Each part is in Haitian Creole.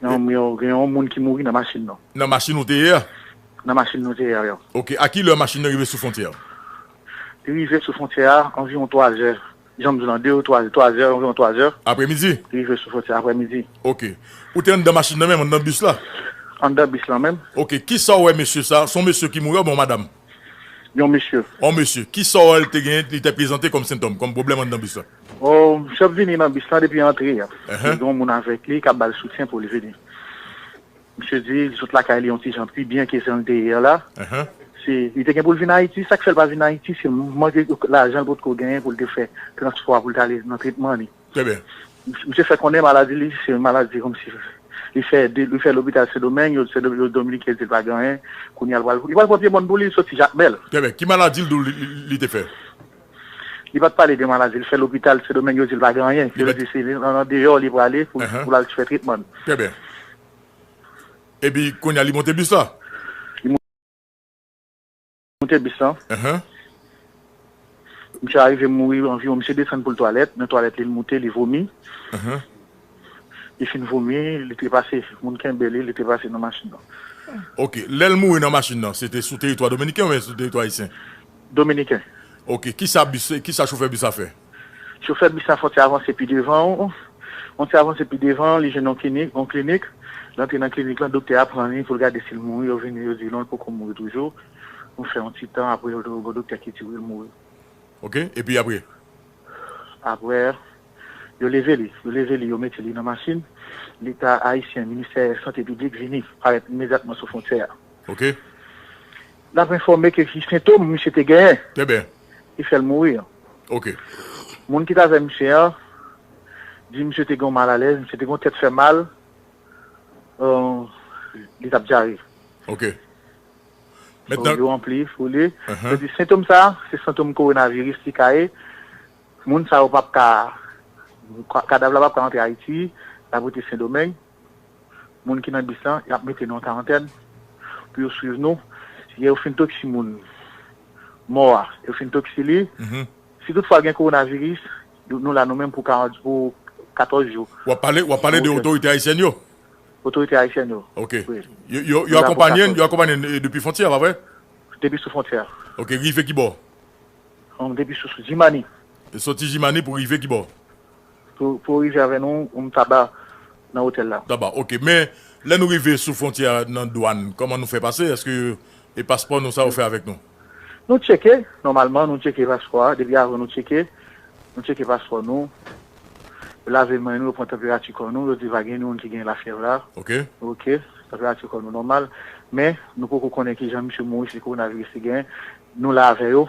Yon m yo gen yon moun ki mouri nan machin nou. Nan machin ou te ye a? Nan machin nou te ye a yo. Ok, a ki lè machin nan rive sou fontyè a? Li rive sou fontyè a anviwon 3 zè, jan m di w lan, 2 ou 3 zè, 3 zè, anviwon 3 zè. Aprè midi? Li rive sou fontyè a aprè midi. Ok. Ou te anndan machin nan menm, anndan bis la? Anndan bis lan menm. Ok, ki sa w wè mesye sa, s on mesye ki mouri a ou byen yon madam? Yon mesye. On mesye. Ki sò l te gen li te prezante kòm sentòm, kòm pwoblèm anndan bis la? O misye ap vini nan bis la depi antre a. Li gen yon moun avèk li k ap ba l soutyen pou l vini. Misye di li sot lakay li yon ti jan pi byen ke jan l te ye la. Se li te gen pou l vin Ayiti. Sa k fè l pa vin Ayiti se manke lajan l potko genyen pou l te fè transpò a pou l t ale nan tretman li. Trè byen. Misye fè konnen maladi li se yon maladi kòmsi li fè de li fè lopital sendomeng yo se yo dominiken di l pa gen anyen kounye a li pral li pral pran pye mòn pou li li soti jakmèl. Trè byen. Ki maladi l di w li li te fè? Li pa t pale de maladi li fè lopital sendomeng yo di l pa gen anyen Li yo pa di se an an deyò li prale pou l pou l al fè tretman l. Trè byen. Epi kounye a li monte bis la? Moute bis lan. Misye arive mouri anviwon misye desann pou l twalèt, nan twalèt li l moute li vomi. Li fin vomi, li trepase, moun kenbe li, li trepase nan machin nan. Ok, lè l mouri nan machin nan, se te sou teritwa dominiken oubyen sou teritwa ayisyen? Dominiken. Ok, kisa bis, kisa chofè bis la fè? Chofè bis la fè yon ti avanse pi devan, yon ti avanse pi devan, li jwenn yon klinik, yon klinik, li antre nan klinik lan, doktè a pran li pou l gade si l mouri, yo vini yo di non l poko mouri toujou, nou fè yon ti tan apre yo gen yon doktè ki di wi l mouri. Ok, epi apre? Apre, yo leve li, yo leve li, yo mete li nan machin, leta ayisyen, ministè sante piblik vini, parèt imedyatman sou fwontyè a. Ok. N ap enfòme ke ki sentom misye te genyen. Trè byen. ki fè l mouri an. Ok. Moun ki t avè misye an di misye te gen yon malalèz, misye te gen yon tèt fè mal, li t ap dyare. Ok. Mètnan. Yo ranpli pou li. Yo di sentom sa a, se sentom kowonaviris li ka ye. Moun sa yo p ap ka, kadav la p ap ka antre Ayiti, l ap rete Sendomeng. moun ki nan bis la yap mete nou an karantèn pou yo swiv nou lè yo fin toksi moun mò a yo fin toksi li si tout fwa gen korona viris nou la nou menm pou 14 jou wap pale wap pale de otorite ayisyèn yo otorite ayisyèn yo ok yo yo akonpanye n yo akonpanye n depi fontyè pa vre depi sou fontyè ok rive kibò depi sou jimani soti jimani pou rive kibò. Pou rive avè nou ou m taba nan hotel la. Taba ok men lè nou rive sou fontyè a nan dwan koman nou fè pase eske e paspò nou sa yo fè avèk nou. Nou tcheke nòmalman nou tcheke paspò a depi avan nou tcheke nou tcheke paspò nou yo lave men nou yo pran tanperati kò nou yo di pa gen moun ki gen lafyèv la ok ok tanperati kò nou nòmal men nou poko konnen kijan misye mouri si kowonaviris li gen nou la avè yo.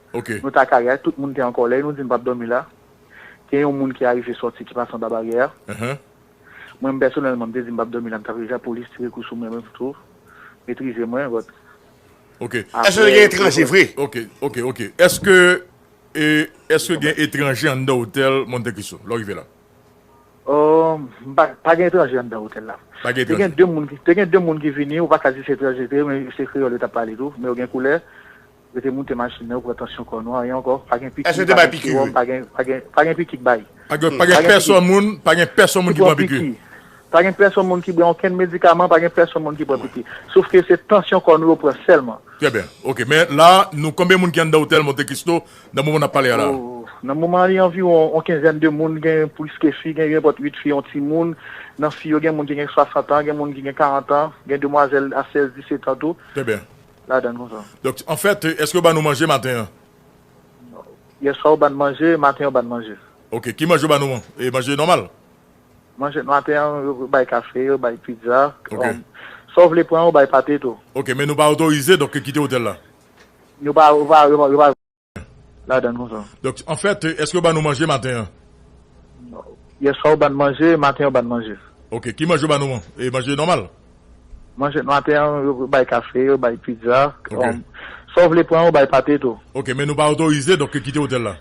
Nou ta ka ria, tout moun te an kòlè e nou di n pap dòmi la. Gen yon moun ki arive sòti ki pase anba baryè a. Mwen m pèsonèlman m te di m pap dòmi la m tap ria polis tire kou sou mwen men m tou metrize mwen but aprè. Eske gen etranje anndan otèl Monte Cristo lè w rive la? Umm pa gen etranje anndan otèl la. Te gen 2 moun ki vini ou pa ka di se etranje yo te ye men se kreyòl yo tap pale tou men yo gen koulè. Rete moute machin nan yo pran tansyon kò nou anyen ankò pa gen piki pa gen siwòm pa gen pa gen pa gen piki k bay pa gen pa gen pèsonn moun pa gen pèsonn moun ki pran piki pa gen pèsonn moun ki bran okenn medikaman pa gen pèsonn moun ki pran piki sof ke se tansyon kò nou yo pran sèlman. Trè byen ok men la nou konbyen moun ki anndan otèl Monte Cristo nan moman nap pale a la? Nan moman an li anviwon on kenzèn de moun gen plis ke fi gen yon pòt 8 fi yon timoun nan fi yo gen moun ki gen 60 an gen moun ki gen 40 an gen demwazèl a 16 17 an tou. Trè byen. ladann konsa. Doc, anfèt, èske yo ban nou manje maten an? Yèswa yo ban n manje, maten yo ban n manje. Ok, ki manje yo ban nou an? E manje nòmal? Manje maten an, yo bay kafe, yo bay pizza, Ok. sa w vle pran, yo bay pate tou. Ok, men nou pa otorize donk kite otèl la? Nou pa, yo pa, yo pa. ladann konsa. Donk an fèt eske yo ban nou manje maten an? Yèswa yo ban n manje, maten yo ban n manje. Ok, ki manje yo ban nou an? E manje nòmal? Manje maten an yo bay kafe, yo bay pizza, sa w vle pran yo bay pate tou. Ok, men nou pa otorize donk kite otèl la?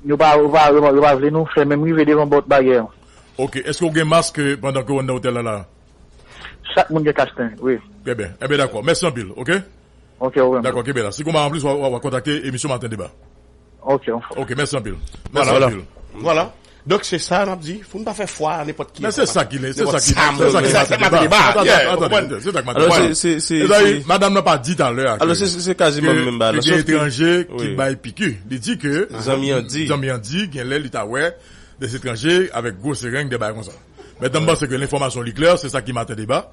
Yo pa yo pa vle nou fè menm rive devan pòt bagè an. Ok, eske ou gen mask pandan ke ou anndan otèl la la? Chak moun gen kach nen wi. Trè byen, enben dakò, mèsi anpil ok. Ok ou menm tou. Dakò kenbe la. Si konba an plis wap kontakte emisyon maten deba. Ok an fò. Ok mèsi anpil. Mèsi anpil. Vwala. Donk se sa nap di foun pa fè fwa a nenpòt ki. Men se sa ki se sa ki se maten deba. Ou konprann? Se sa ki maten deba. Se se se. Madam nan pa di talè a. Alò se se kaze menm menm ba la. Ke gen etranje ki bay piki. Li di ke zanmi an di. Zanmi an di gen lè li ta wè des etranje avèk gwo sereng de bagay konsa. Mèt la m panse ke lenfòmasyon li klè se sa ki maten deba.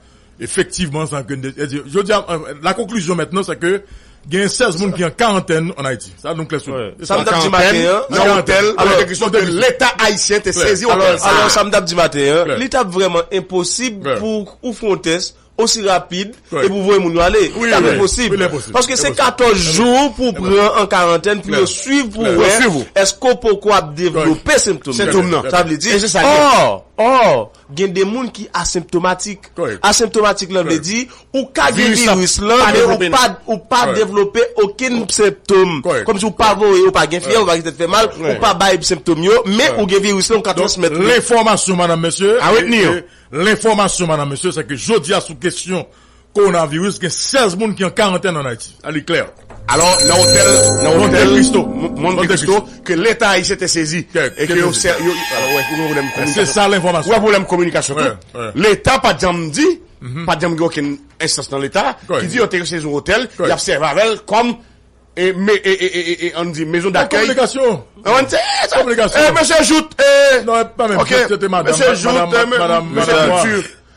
Efektivman, sa ke n te di. Jodi a, la conclusion maintenant c'est que genyen 16 moun ki an karantèn an Ayiti. Sa nou klè sou li. Sa m t ap di maten an, nan otèl, avèk de kesyon ke Leta ayisyen te sezi otèl sa a. Alò, sa m t ap di maten an, li t ap vrèman enposib pou ou fè yon tès osi rapid epi ou voye moun yo ale. Li t ap enposib. Paske se 14 jou pou w pran an karantèn pou yo suiv pou wè èske ou poko ap devlope sentom nan. Sentom nan. Sa vle di, or, or. Gen de moun ki asenptomatik. Asenptomatik la vle di ou ka gen viris la men ou pa devlope okenn senptom. Kòmsi ou pa voye, ou pa gen fyèv, ou pa gen tèt fè mal, ou pa bay senptom yo, men ou gen viris la ou ka transmèt li. Donk lenfòmasyon madanm mesye, lenfòmasyon madanm mesye se ke jodi a sou kesyon Coronavirus, gen 16 moun ki an karantèn an Ayiti, a li klè. Alò, nan otèl Monte Cristo, Monte Cristo, ke leta ayisyen te sezi e ke yo sè, yo, alò, wè, ou gen pwoblèm kominikasyon, se sa l enfòmasyon, ou gen pwoblèm kominikasyon tou, leta pa t janm di, pa t janm gen okenn enstans nan leta ki di yo te sezi yon otèl, y ap sèvi avè l kòm, e, me, e, e, e, e, an n di mezon dakèy, se kominikasyon, se kominikasyon, e, mesye Jouthe, e, non, e, pa menm, se te madam, mesye Jouthe, mesye Couture.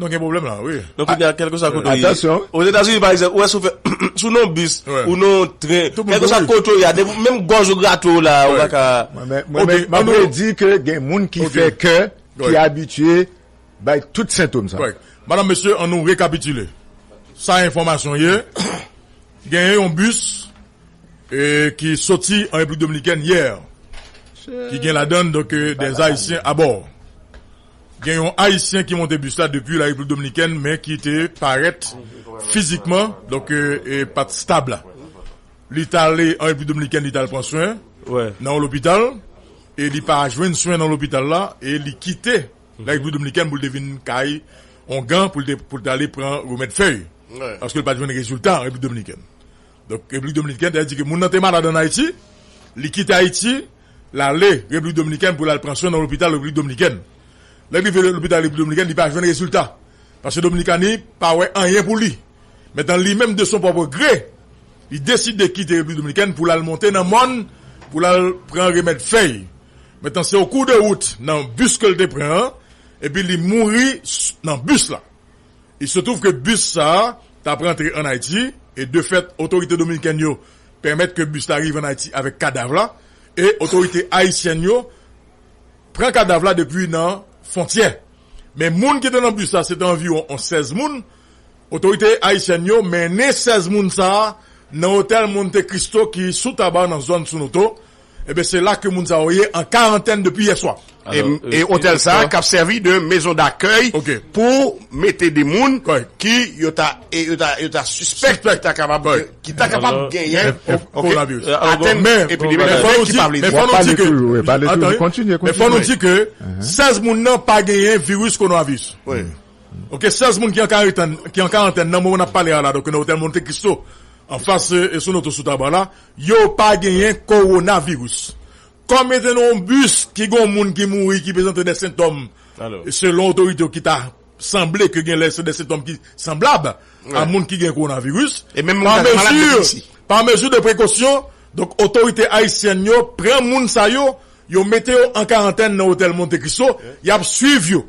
Nou gen pwoblèm la wi. Donk kounye a kèlkeswa kote ou ye. Atansyon. Ozetazini pa egzanp, ou wè si w fè si w nan yon bis ou nan yon tren, kèlkeswa kote ou ye a, depi menm gòj ou grate w la ou pa ka. Mwen menm m ap redi ke gen moun ki fè kè ki abitye bay tout sentom sa. Madam, mesye, annou rekapitile sa enfòmasyon ye. Genyen yon bis ki soti an Repiblik Dominikèn yè ki gen ladann donk dè Ayisyen abò. Gen yon Ayisyen ki monte bis la depi la Repiblik Dominikèn men ki te parèt fizikman donk pa t stab la. Li t ale an Repiblik Dominikèn li t al pran swen nan yon lopital e li pa jwenn swen nan lopital la e li kite la Repiblik Dominikèn pou l te vin kay Ongan pou l te ale pran remèd fèy paske l pa t jwenn rezilta an Repiblik Dominikèn. Donk Repiblik Dominikèn te endike moun nan te malad ann Ayiti, li kite Ayiti, l ale Repiblik Dominikèn pou l al pran swen nan lopital Repiblik Dominikèn. Lè li rive lopital Repiblik Dominikèn, li pa jwenn rezilta, paske Dominikani pa wè anyen pou li. Mentan li menm de son pwòpre gre, li deside kite Repiblik Dominikèn pou l al monte nan mòn pou l al pran remèd fèy. Mentan se o kou de wout nan bis ke l te pran an, epi li mouri nan bis la. Il se trouve ke bis sa a t ap rantre ann Ayiti e de fèt otorite dominikèn yo pèmèt ke bis la rive ann Ayiti avèk kadav la e otorite ayisyèn yo pran kadav la depi nan fontyè men moun ki te nan bis la se te anviwon on 16 moun otorite ayisyèn yo mennen 16 moun sa a nan otèl Monte Cristo ki sou Taba nan zòn Sonoto Ebyen se la ke moun sa yo ye an karantèn depi yè swa. E otèl sa a kap sèvi de mezon dakèy pou mete de moun ki yo ta yo ta sispèk ki ta kapab ki ta kapab genyen kowonaviris. Atèn men men fò nou di ke men fò nou di ke 16 moun nan pa genyen viris kowonaviris. Ok 16 moun ki an karitèn ki an karantèn nan moman nap pale a la donk nan otèl Monte Christo anfas sou nou tou sou Tabar la Yo pa genyen kowonaviris. Kòm yo te nan yon bis ki gen yon moun ki mouri ki prezante de sentòm selon otorite yo ki ta sanble ke genlè se de sentòm ki sanblab a moun ki gen kowonaviris, pa mezi de prekosyon, donk otorite ayisyèn yo pran moun sa yo, yo mete yo an karantèn nan otèl Monte Cristo, y ap swiv yo.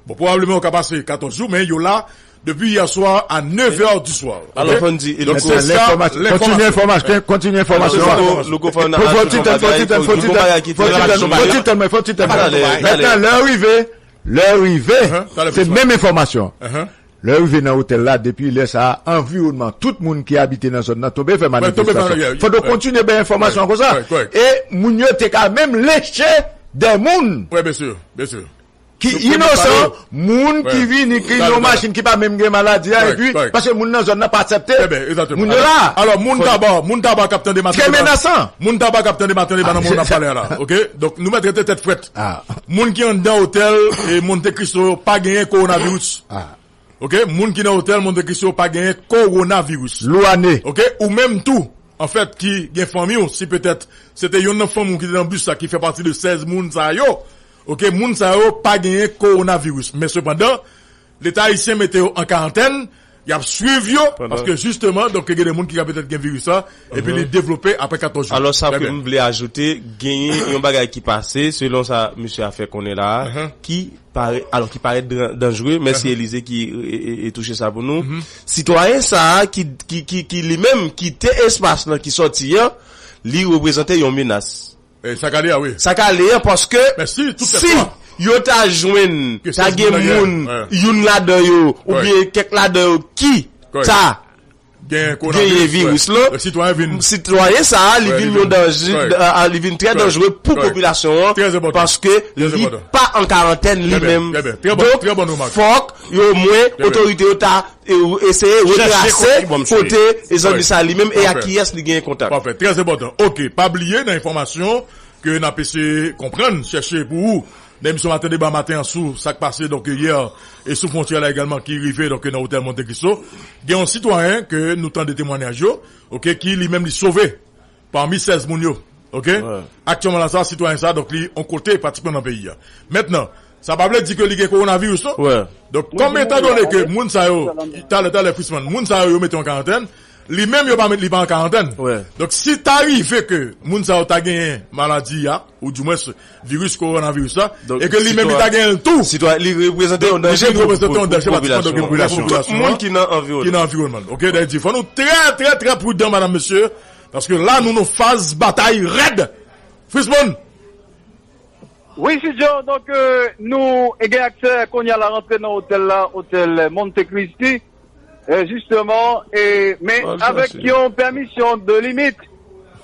Bon pwobableman yo ka pase 14 jou men yo la depi yè swa a 9 è di swa ok donk se sa lènfòmasyon kontinye enfòmasyon an fò ti tèn fò ti tèn fò ti tèn mwen fò ti tèn mètnan lè ou rive lè ou rive se menm enfòmasyon lè ou rive nan otèl la depi lè sa a anviwònman tout moun ki abite nan zòn nan tonbe fè manifestasyon fòk yo kontinye bay enfòmasyon konsa e moun yo te ka menm lenche dè moun. ki inosan, moun ki vini ki nan yon machin ki pa menm gen maladi a epi paske moun nan zòn nan pa aksepte moun yo la. Alò moun taba, moun taba k ap tande Matande Bananman yo. Trè menasan. Moun taba k ap tande Matande Bananman yo n ap pale a la ok. Donk nou mèt rete tèt frèt. Moun ki anndan otèl Monte Cristo yo pa genyen kowonaviris ok. Moun ki nan otèl Monte Cristo yo pa genyen kowonaviris. Louane. Ok ou menm tou anfèt ki gen fanmi w si petèt se te yonn nan fanmi w ki te nan bis la ki fè pati de 16 moun sa yo. Ok moun sa yo pa genyen coronavirus men sepandan leta ayisyen mete yo an karantèn yap swiv yo paske jisteman donk gen de moun ki ka petèt gen viris la epi li devlope apre 14 jou. Alò sa ke m vle ajoute genyen yon bagay ki pase selon sa mesye a fè konnen la a ki pare alò ki parèt danjre mèsi Elize ki touche sa pou nou sitwayen sa a ki ki ki ki li menm kite espas lan ki sòti an li reprezante yon menas. Sak ale a wi. Sak ale an paske si yo ta jwenn ta gen moun youn ladan yo oubyen kèk ladan yo ki ta genyen viris lan sitwayen sa a li vin yon danje li vin trè danjre pou popilasyon an paske li pa an karantèn li menm donk fòk yo omwen otorite yo ta E ou eseye retrase kote Jean Louis sa li menm e ak kiyès li genyen kontak. Pafè, trè enpòtan. Ok, pa bliye nan enfòmasyon ke nap eseye konprann, chèche pou ou nan emisyon Maten Deba maten an sou sak pase donk yè e sou fwontyè la egalman ki rive donk nan otèl Monte Cristo. Gen yon sitwayen ke nou tande temwanyaj yo, ok, ki li menm li sove Pami 16 moun yo, ok, aktyèman la sa a, sitwayen sa a, donk li on kote pratikman nan peyi a. Mentnan, sa pa vle di ke li gen kowonaviris non. Donk, kòm etan done ke moun sa yo, talè, talè Frisman, moun sa yo yo mete yo an karantèn, li menm yo pa met, li pa an karantèn. Donk, si ta rive ke moun sa yo ta genyen maladi a, ou dimwens, viris kowonaviris la e ke li menm li ta genyen l tou. Sitwayen, li reprezante yon danje pou popilasyon an. Li reprezante yon danje pou popilasyon an. Pou tout moun ki nan anviwònman l. Ok, dayiti. Fò nou trè, trè, trè prudan madam, mesye, paske la nou nan faz batay rèd. Frismon! Wi, Sidjo, donk nou gen aksè kounye a la rantre nan otèl la, otèl Monte Christi. E jisteman, e, men avèk yon pèmisyon de limit.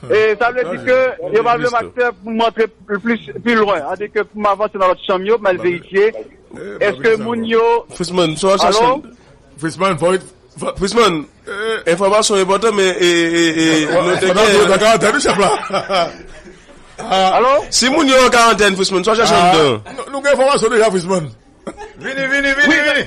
E sa vle di ke yo pa vle m aksè pou m antre plis, pi lwen. A di ke pou m avanse nan lòt chanm yo, pou m al verifye, èske moun yo. Frisman, sa w al chache. Alo? Frisman, fò w. Frisman, enfòmasyon enpòtan men, e, e, e, nou te gen. Nan karantèn wi chèf la. Alo? Si moun yo an karantèn, Frisman, sa w al chache anndan? Nou gen enfòmasyon deja, Frisman. Vini, vini, vini, vini.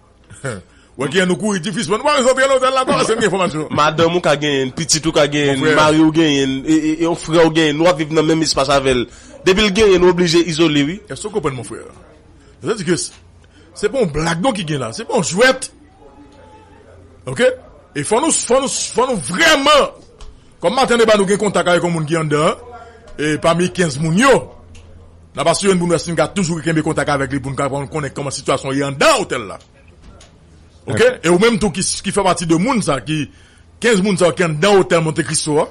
Wè kijan nou kouri ti fis mwen nou pa bezwen antre lotèl la pa pase m gen enfòmasyon. Madanm ou ka genyenn, pitit ou ka genyenn, mari ou genyenn, yon frè ou genyenn, nou ap viv nan menm espas avèl. Depil genyenn ou oblije izole wi. Èske ou konprann mon frère? Sa di ke se pa yon blag non ki gen la, se pa yon jwèt. Ok e fò nou fò nou fò nou vrèman Kòm maten debat nou gen kontak avèk yon moun ki anndan an, e pami 15 moun yo, n ap asire n pou n wè si n ka toujou kenbe kontak avèk li pou n ka konnen kòman sitiyasyon an ye anndan otèl la. Ok? E ou menm tou ki fè pati de moun sa ki, 15 moun sa yo ki anndan otèl Monte Cristo a,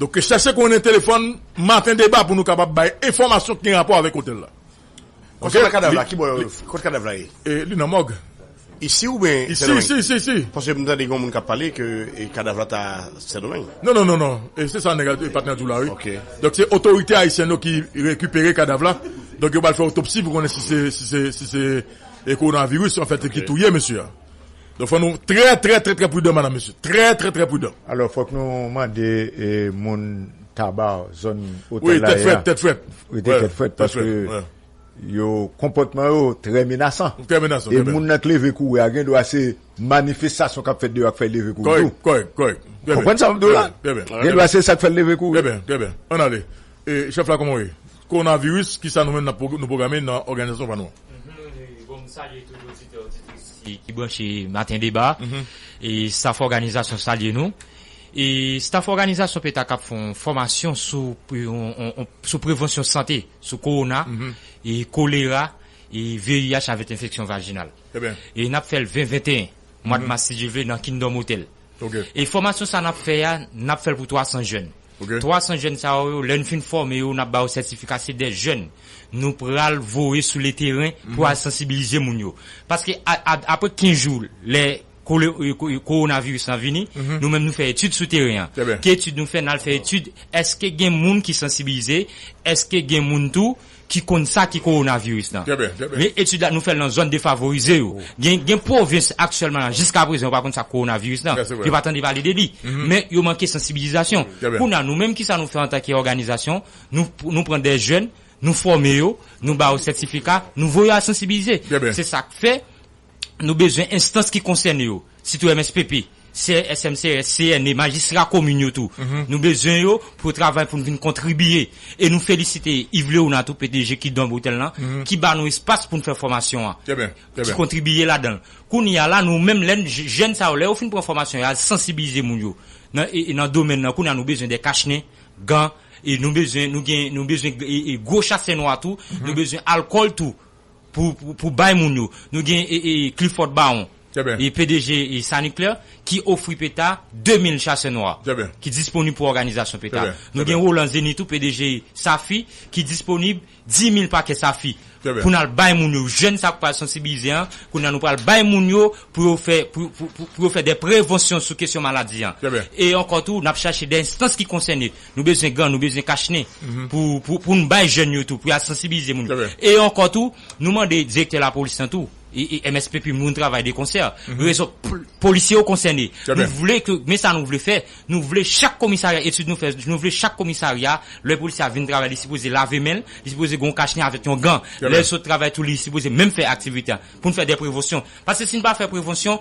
donk chèche konnen telefòn maten deba pou nou kapab bay enfòmasyon ki gen rapò avèk otèl la. Konsèy nan kadav la ki bò yo kot kadav la ye? Li nan mòg. Isi ou byen Sendomeng? Isi, isi, isi. Paske m tande gen yon moun kap pale ke kadav la ta Sendomeng. Non, non, non, non. E se sa nèg la, patnè a di w la wi. Ok. Donk se otorite Ayisyèn yo ki rekipere kadav la. Donk yo pral fè otopsi pou konnen si se, si se, si se koronaviris anfèt ki touye mesye a. Donk fò nou trè trè trè trè prudan madam mesye trè trè trè prudan. Alò fòk nou mande moun taba zòn otèl la ye a rete tèt frèt paske yo konpòtman yo trè menasan e moun nan k leve kouri a gendwa se manifestasyon kap fèt deyò a k fè l leve kouri tou konprann sa map di w la gendwa se sa k fè l leve kouri. Chef la koman w ye? Corona virus kisa nou menm nap nou pwograme nan òganizasyon pa nou an? Bon m salye tout oditè oditris ki branche maten deba e staff òganizasyon salye nou e staff òganizasyon petac ap fè yon fòmasyon sou sou prevansyon sante sou corona e kolera e VIH avèk enfeksyon vajinal e nap fèl 20 21 mwad mas si Dye vle nan Kingdom Hotel. E fòmasyon sa n ap fè a, n ap fè l pou 300 jèn. 300 jèn sa yo yo, lè n fin fòme yo, n ap ba yo sètifika. Se dè jèn nou pral voye sou le teren pou al sansibilize moun yo. Paske apre 15 jou lè kowonaviris lan vini, nou menm nou fè etid sou teren an. Ki etid nou fè? N al fè etid èske gen moun ki sansibilize, èske gen moun tou ki konn sa ki kowonaviris lan. Men etid la nou fè l nan zòn defavorize yo. Gen gen pwovens aktyèlman la jiska prezan yo pa konn sa k kowonaviris lan. Yo pa tande pale de li. Men yo manke sansibilizasyon. Kounye a nou menm kisa nou fè antanke òganizasyon, nou nou pran dè jèn, nou fòme yo, nou ba yo sètifika, nou voye yo al sansibilize. Se sa k fè. Nou bezwen enstans ki konsène yo, sitou MSPP, CRS, MCRS, CNE, majistra komin yo tou. Nou bezwen yo pou yo travay pou nou vin kontribiye. E nou felisite Yves Léonard tou, pdg ki Don Bretèl lan, ki ba nou espas pou nou fè fòmasyon an, ki kontribiye ladan l. Kounye a la, nou menm lè n, jèn sa yo, lè yo fin pran fòmasyon yo, y al sansibilize moun yo nan nan domèn nan. Kounye a nou bezwen de kach nen, gan, e nou bezwen, nou gen, nou bezwen gwo chasè nwa tou, nou bezwen alkòl tou. pou bay moun yo. Nou gen Clifford Baron, pdg Sanuclè, ki ofri peta 2 mil chasè nwa ki disponib pou òganizasyon peta. Nou gen Roland Zenith tou, pdg Safi, ki disponib 10 mil pakè Safi pou n al bay moun yo. Jèn sa k pral sansibilize an, kounye a nou pral bay moun yo pou yo fè, pou yo fè dè prevonsyon sou kesyon maladi an. E ankò tou, n ap chache dè enstans ki konsène Nou bezwen gan, nou bezwen kach nen pou n bay jèn yo tou, pou y al sansibilize moun yo. E ankò tou, nou mande direktè lapolis lan tou, e MSP pi moun travay de konsè, rezon polisye yo konsène. Nou vle ke, men sa nou vle fè, nou vle chak komisarya, etid nou fè, nou vle chak komisarya, lè polisye a vin travay li sipoze lave men l, li sipoze gen yon kach nen avèk yon gan. Lè l sot travay tou li sipoze menm fè aktivite a. Pou n fè de prevonsyon. Paske si n pa fè prevonsyon,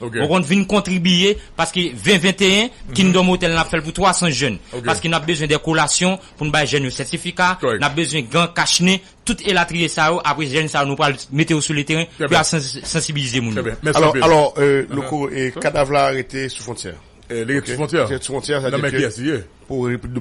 Mwen konn vin kontribiye paske 20 21 Kingdom Hotel nan ap fèl pou 300 jèn paske nap bezwen de kolasyon poun bay jèn yo sètifika nap bezwen gan kach nen tout elatriye sa yo apre jèn sa yo nou pral mete yo sou le teren pou yal sansibilize moun yo. Alò Louko kadav la rete sou fwontyè a? Li rete sou fwontyè a? Nan men kiyès li ye? Pou repiblik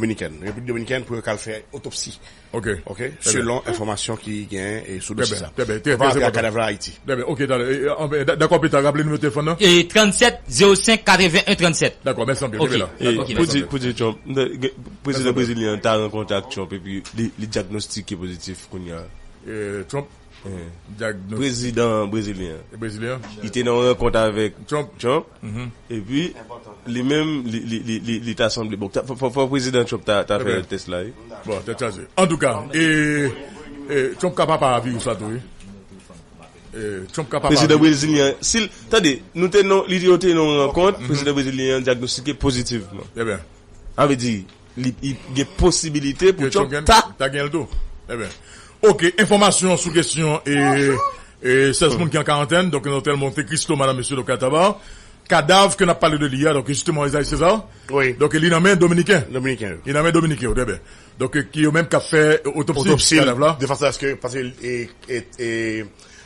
dominikèn pou yo kal fè otopsi. Ok selon enfòmasyon ki genyen sou dosye sa Papa Abya kadav la Ayiti. Ok talè dakò pita raple nimewo telefòn nan. 37 05 81 37. Dakò mèsi anpil kenbe la. Ey pou di Trump m tande gen prezidan brezilyen an ta rankontre ak Trump epi li diagnostike pozitif kounya. Trump. prezidan brezilyen an, li te nan yon rankont avèk Trump, epi li menm li ta sanble, bon, fòk prezidan Trump ta fè tès la wi. Bon, tèt chaje. Antouka, e Trump ka papa a viris la tou wi. Trump ka papa a viris la. Prezidan brezilyen an, si l, tande, nou te nan, yo te nan yon rankont, prezidan brezilyen an dyagnostike pozitivman. Trè byen. Sa vle di, Li gen posibilite pou Trump ta. Ta gen l tou. Enben, ok. Enfòmasyon sou kesyon 16 moun ki an karantèn, donk nan otèl Monte Cristo, Madame, Mesye, donk Ataba. Kadav ke n ap pale de li a, donk jisteman Esaïe César, donk li nan men dominiken. Dominiken yo. Li nan men dominiken yo, trè byen. Donk ki yo menm k ap fè otopsi kadav la. Otopsi l, de fason aske, paske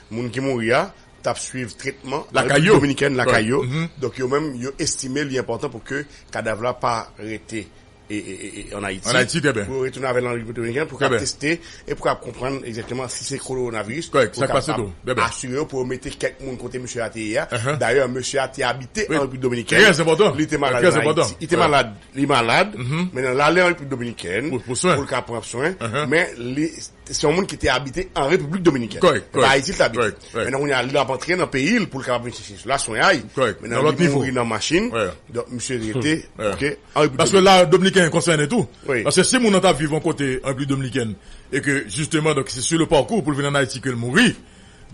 moun ki mouri a. t ap swiv tretman nan Repiblik Dominikèn lakay yo, donk yo menm yo estime li enpòtan pou ke kadav la pa rete an Ayiti, pou yo retounen avè l an Repiblik Dominikèn pou ka teste e pou ka konprann egzakteman si se koronaviris pou yo kapab asire yo pou yo mete kèk moun kote mesye a te ye a. Dayè mesye a te abite an Repiblik Dominikèn, li te malad an Ayiti, li te malad, li malad, men l ale an Repiblik Dominikèn pou l ka pran swen, men li. Se yon moun ki te abite an Repiblik Dominikèn. Kòrèk, kòrèk. Se pa Ayiti li te abite. Kòrèk, kòrèk. Mètnan kounye a li ap antre nan peyi l pou l kapab vin chèche sila swenyay. Kòrèk. Nan lòt nivo. Mètnan li mouri nan machin. Wè. Donk misye rete. Wè. Ok, an Repiblik Dominikèn. Paske la Dominiken konsène tou. Wi. Paske si moun nan t ap viv yon kote an Repiblik Dominikèn e ke jisteman donk se su le parcours pou l vin an Ayiti ke l mouri,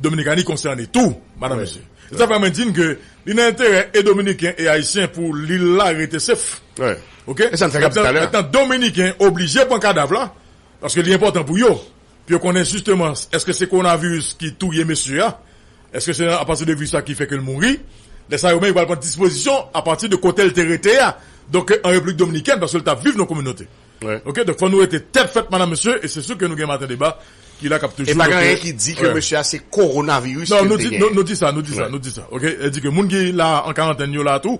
Dominikani konsène tou, madan mesye. Se sa k fè mwen di n ke li nan enterè e Dominiken e Ayisyen pou lil la rete sef. Wè. Ok? E sa n fè k ap di talè a. Mètnan Dominiken oblije pran kadav la Paske li enpòtan pou yo, pou yo konnen jisteman èske se kowonaviris ki touye mesye a, èske se apati de viris la ki fè ke l mouri, lè sa yo menm yo pral pran dispozisyon apati de kote l te rete a, donk an Repiblik Dominikèn, paske l t ap viv nan kominote. Ok, donk fò nou rete tèt frèt madanm mesye, e se sou ke nou gen maten deba ki la k ap toujou. E pa gen anyen ki di ke mesye a se kowonaviris ke l te genyen. Non, nou di sa, nou di sa, nou di sa, ok, e di ke moun ki la an karantèn yo la tou,